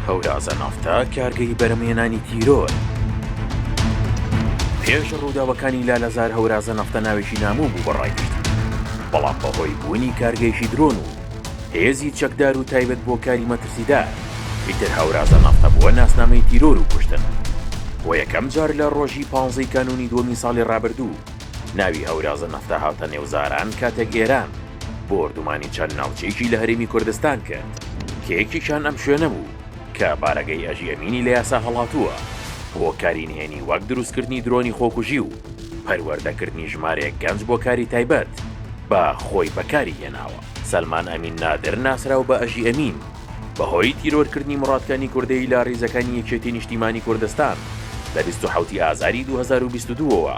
هەورازە نافتە کارگەی بەرەمێنانی تیرۆر پێش ڕووداوەکانی لالەزار هەورازە نەفتە ناوێکی ناموو بوو بەڕایشت بەڵام بەهۆی بوونی کارگەیشی درۆن و هێزی چەکدار و تایبەت بۆ کاری مەترسیدا ئیتر هەورازە نافتە بووە ناسنامەی تیرۆر و کوشتن بۆ یەکەم جار لە ڕۆژی پانزەی کانونی دووەمی ساڵی ڕابردوو ناوی هەورازە نەفتا هاتە نێو زاران کاتێک ئێران بۆردومانی چەند ناوچەیەکی لە هەرێمی کوردستان کرد کە یەکێکیان ئەم شوێنە بوو کە بارەگای ئەژی ئەمینی لە یاسا هەڵاتووە بۆ کاری نهێنی وەک دروستکردنی درۆنی خۆکوژی و پەروەردەکردنی ژمارەیەک گەنج بۆ کاری تایبەت بە خۆی بەکاری هێناوە. سەلمان ئەمین نادر ناسراو بە ئەژی ئەمین، بەهۆی تیرۆرکردنی موڕاد کانی کوردەیی لە ڕیزەکانی یەکێتی نیشتیمانی کوردستان لە بیست و حەوتی ئازاری دوو هەزار و بیست و دوو ەوە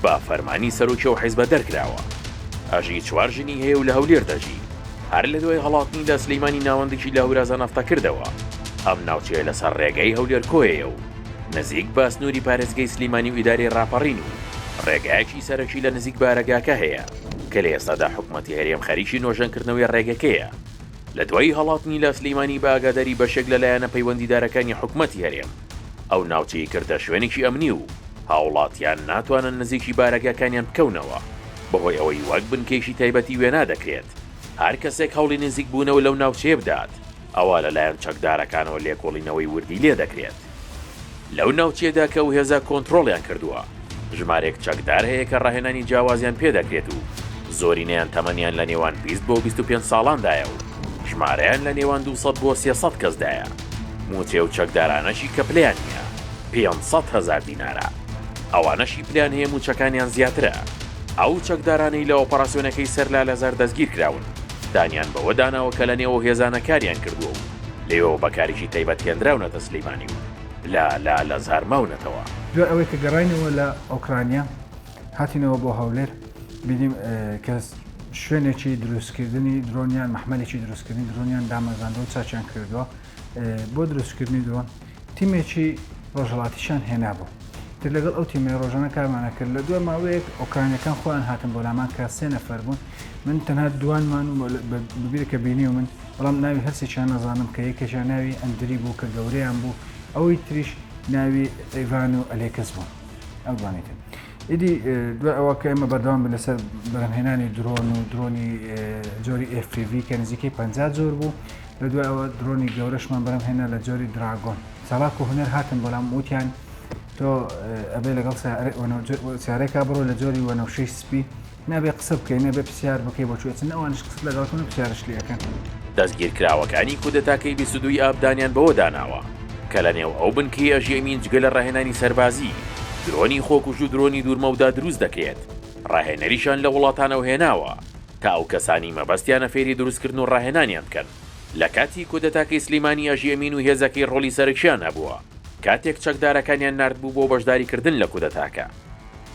بە فەرمانی سەرۆکی ئەو حیزبە دەرکراوە. ئەژی چوار ژنی هەیە و لە هەولێر دەژی. هەر لە دوای هەڵاتنی لە سلیمانی ناوەندکی لە هورازان ئەفتە کردەوە. ئەم ناوچەیە لە سەر ڕێگای هەولێر کۆیەیە و نزیک بە سنووری پارێزگەی سلیمانی و ئیدارەی ڕاپەڕین و ڕێگایەکی سەرەکی لە نزیک بارەگاکە هەیە کە لە ئێستادا حکومەتی هەرێم خەریکی نۆژەنکردنەوەی ڕێگەکەیە. لە دوای هەڵاتنی لە سلیمانی بە ئاگاداری بەشێک لە لایەنە پەیوەندیدارەکانی حکومەتی هەرێم، ئەو ناوچەی کردە شوێنێکی ئەمنی و هاوڵاتیان ناتوانن نزیکی بارەگاکانیان بکەونەوە، بەهۆی ئەوەی وەک بنکەیەکی تایبەتی وێنا دەکرێت، هەر کەسێک هەوڵی نزیک بوونەوە لەو ناوچەیە بدات، ئەوا لەلایەن چەکدارەکانەوە لێکۆڵینەوەی وردی لێدەکرێت. لەو ناوچەیەدا کە ئەو هێزە کۆنترۆڵیان کردووە، ژمارێک چەکدار هەیە کە ڕاهێنانی جیاوازیان پێ دەکرێت و زۆرینەیان تەمەنیان لە نێوان بیست بۆ بیست و پێنج ساڵاندایە و ژمارەیان لە نێوان دوو سەد بۆ سێ سەد کەسدایە. مووچەی ئەو چەکدارانەشی کە پلەیان نییە، پێنج سەد هەزار دینارە. ئەوانەشی پلەیان هەیە مووچەکانیان زیاترە. ئەو چەکدارانەی لە ئۆپەراسیۆنەکەی سەر لالەزار دەستگیرکراون، دانیان بەوەدا ناوە کە لەنێو ئەو هێزانە کاریان کردووە و لێوەوە بە کارێکی تایبەت هێنراونەتە سلیمانی و لە لە لە زار ماونەتەوە. دوای ئەوەی کە گەڕاینەوە لە ئۆکرانیا هاتینەوە بۆ هەولێر بینیم کە شوێنێکی دروستکردنی درۆنیان مەحمەلێکی دروستکردنی درۆنیان دامەزراندەوە چاچیان کردووە بۆ دروستکردنی درۆن تیمێکی ڕۆژهەڵاتیشیان هێنابوو. تر لەگەڵ ئەو تیمەی ڕۆژانە کارمان نەکرد، لە دوای ماوەیەک ئۆکرانییەکان خۆیان هاتن بۆ لامان کە سێ نەفەر بوون، من تەنها دوانمان و ببیرە کە بینیومن، بەڵام ناوی هەرسێکیان نەزانم کە یەکێکیان ناوی ئەندری بوو کە گەورەیان بوو، ئەوەی تریش ناوی ئیڤان و ئەلێکس بوون. ئەو دوانەی تر ئیدی دوای ئەوە کە ئێمە بەردەوام بووین لەسەر بەرهەمهێنانی درۆن و درۆنی جۆری FPV کە نزیکەی پەنجا جۆر بوو، لە دوای ئەوە درۆنی گەورەشمان بەرەم هێنا لە جۆری دراگۆن چالاک و هونەر هاتن بەڵام وتیان تۆ ئەبێ لەگەڵ سیارێکا بڕۆ لە جۆری وەنەوشەی سپی نابێ قسە بکەین نەبێ پرسیار بکەی بۆ چێتن ئەوانش قسە لەگەڵکن و پرسیارش لەکەن. دەستگیرکراوەکانی کودەتاکەی بیست و دووی ئاب دانیان بەوە داناوە کە لە نێو ئەو بنکەی ئەژێمین جگە لە ڕاهێنانی سەربازی، درۆنی خۆکوژ و درۆنی دوورمەودا دروست دەکرێت، ڕاهێنەریشان لە وڵاتانەوە هێناوە تا ئەو کەسانەی مەبەستیانە فێری دروستکردن و ڕاهێنانیان بکەن، لە کاتی کودەتاکەی سلیمانی ئەژی ئەمین و هێزەکەی ڕۆڵی سەرەکییان هەبووە، کاتێک چەکدارەکانیان ناردبوو بۆ بەشداریکردن لە کودەتاکە،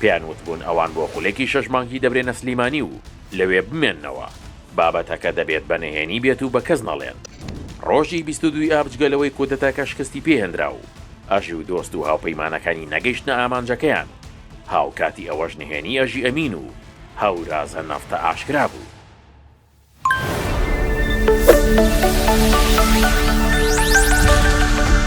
پێیان وتبوون ئەوان بۆ خولێکی شەش مانگی دەبرێنە سلیمانی و لەوێ بمێننەوە، بابەتەکە دەبێت بە نهێنی بێت و بە کەس نەڵێن. ڕۆژی بیست و دوو ئاب جگە لەوەی کودەتاکە شکستی پێهێنرا و ئەژی و دۆست و هاوپەیمانەکانی نەگەیشتنە ئامانجەکەیان، هاوکاتی ئەوەش نهێنی ئەژی ئەمین و هەورازە نەفطە ئاشکرا بوو.